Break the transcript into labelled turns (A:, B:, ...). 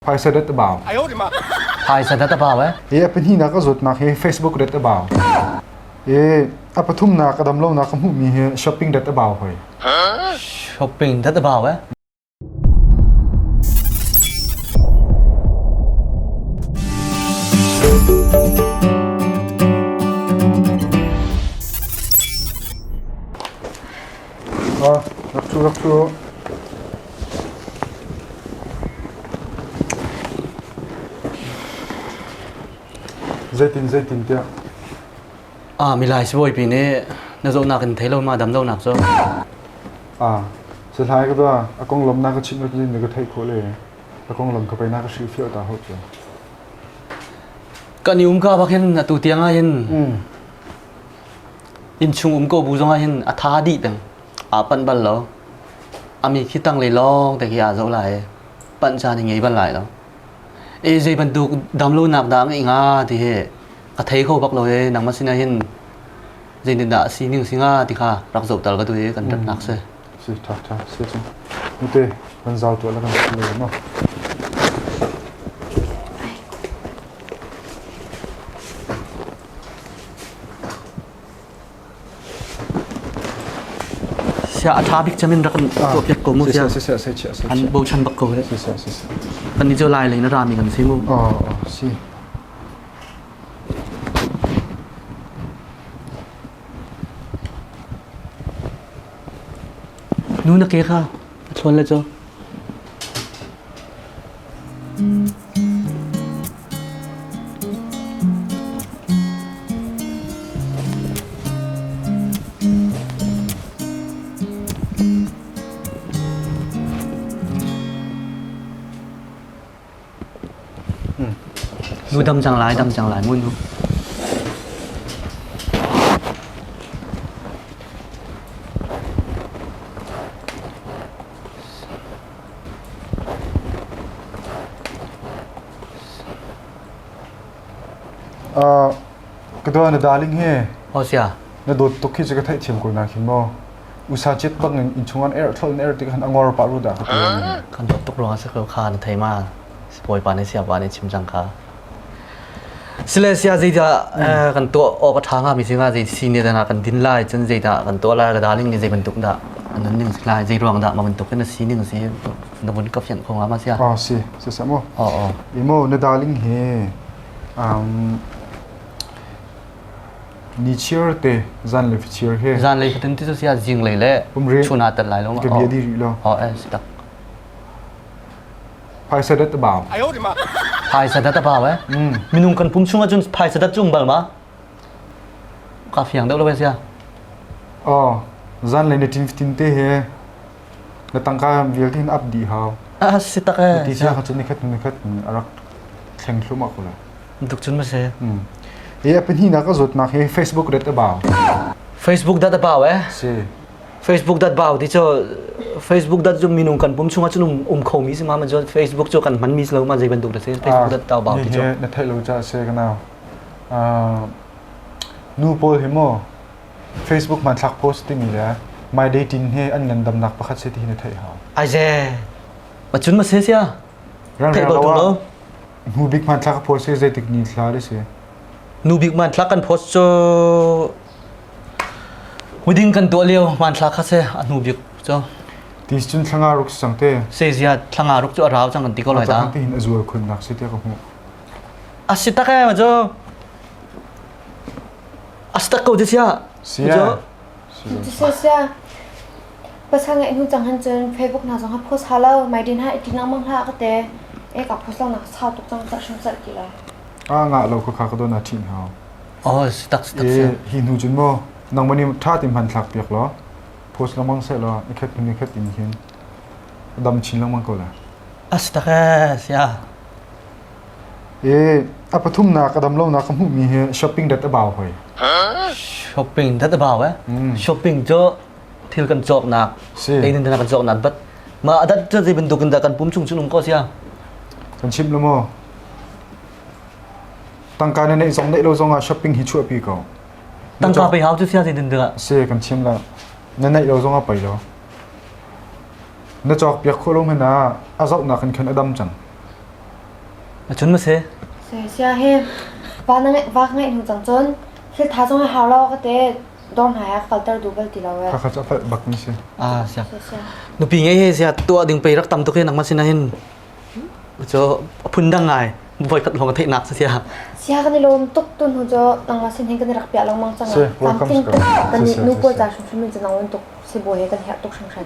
A: Phaisa dat a bau. Phaisa dat a bau eh? I a pahnih nak a zawtnak hi Facebook dat a bau. I a pathum nak a damlo nak a hmuh mi hi shopping dat a bau hoi. Shopping dat a bau eh? Rak ṭhu, rak ṭhu! Zeitin, zeitin tiah? Ah, milai sibawipi nih na zawtnak in thei lo ma damlonak cu? Ah, sethlai ka tuah, a konglawm na ka chimh nak na ka theih khawh le a konglam kha pei na ka hrilhfiah ta hau cu. Kan i um ka bak hin atu tiang ah hin innchung um ko bu zongah hin a tha dih peng aa panh bal lo ami khi tanglei lawng te khi aa zo lai panh caan hi ngei bal lai lo e zei bantuk damlonak dah ngei nga ti hi ka thei kho bak lo e nang ma sinah hin zeitin dah si ning singa ti kha rak zo tal ka tu e kan rat nak se si tha tha si chu nte kan zau to la kan lo no Sia a tha bik cem in rak in tuah piak ko mu sia. An bochan bak ko he. Kan ni cu lai lei na rami kan si mu. Oh, oh, si. Nu na ke kha a thlawn le cho. Lu dam cang lai, dam cang lai, mun lu. Ka dawt na darling hi Oh sia. na dawt tuk khi ka theih thiam ko na khi mo usa chet bang in in chungan er thlol in er ti han angor pa ru da ka tuan Kan dawt tuk ruang a sak lo kha na thei ma. Sipawi pa ne sia pa ne chim jang kha. Silesia zeidah kan tuah awk a ṭha hngami si hnga, zei senior dah kan din lai, cun zeidah kan tuah lai, darling nih zei bantuk dah an nun ning si lai, zei ruang dah mah bantuk hin a si ning si, na vun ka fianh kho hnga ma sia? Oh si, si sa maw? Oh oh. I maw, na darling hi um, ni chiar te zan le fichiar he Zan lei fatin ti sia zinglei le Pumri. chuna tat lai lo ma? ka bia di rih lo. Oh eh si tak. Phaisa dat a bau. Phaisa dat a bau eh. Minung kan pum chung ahcun phaisa dat cung bal ma. Ka fiang deuh lo sia. Oh, zan le ni tin fitin te he. Na tangka vialte in up di hau. Ah si tak eh. Ti sia khat ni khat ni khat arak thleng thluma kula. Duk chun ma se. E apen hi na ka zot nak he Facebook dat a bau. Facebook dat a bau eh. Si. Facebook dat bau ti cho Facebook dat zu minung kan pum chunga chunum um kho mi singa ma Facebook chu kan man mi lo ma zei bantuk da se Facebook dat tau bau ti cho na thai lo cha se kana nu paul hi mo Facebook ma thak post ti mi le mai dei tin he an ngan dam nak pakhat se ti na thai ha ai je ma chun ma se sia thai ba tu lo nu big man thak post se zeitik ni thla de se nu big man thak kan post cho Hmuding kan tuah lio hmanthlak kha se a hnu bik cu. Tis cun thlanga ruk sang te. Se zia thlanga ruk cu a rau cang kan ti ko lai da. Ata hin a zual khun nak si te ka hmu. A si tak e ma cu. A si tak ko sia. Sia. Sia sia. Pasal ngai nu cang han cun Facebook na zong ha post ha lo mai din ha itin ang mang ha ka te. E ka post lo nak sa tuk cang car shim car ki la. A nga lo ka kha ka don a thin hao. Oh, si tak si tak si. I hi hnu cun maw nangmah nih ṭha ti hman thlak piak law post lengmang seh law i khat hnu i khat in hin dam chin lengmang ko la. A si tak ee, sia. I a pathum na ka dam lo na ka hmuh mi hi shopping dat a bao hoi. Shopping dat a bao eh? Shopping cu thil kan cawknak, Si. teinin dana kan cawknak, but ma adat cu zei bantuk in dah kan pum chung cun um ko sia. Kan chim lo maw? Tangka na neih zong neih lo zongah shopping hi chuahpi ko. Tangka pe hau cu siya zeitin dah? Si kan chim la. Na neih lo zongah pei lo. Na cawk piak khawh lo hman ah a zohnak in khan a dam cang. A chun ma se? Se sia he va na ngai va ngai hnu cang cun thil tha zong hau lo ka te dor hna yak falter du bal ti lo e. Kha kha cha fal bak ni si. Ah siya. Se sia. Nupi ngei he siya tuah ding pei rak tam tuk hin nangma sin hin cu phun dang ngai voi khat lawng theihnak sa sia sia kan i lawm tuk tu hnu cu nang la sin hin kan i rak piah lang mang chang tam tin kan ni nu pual ta hrim hrim in nang wen tuk si bo he kan her tuk hrim hrim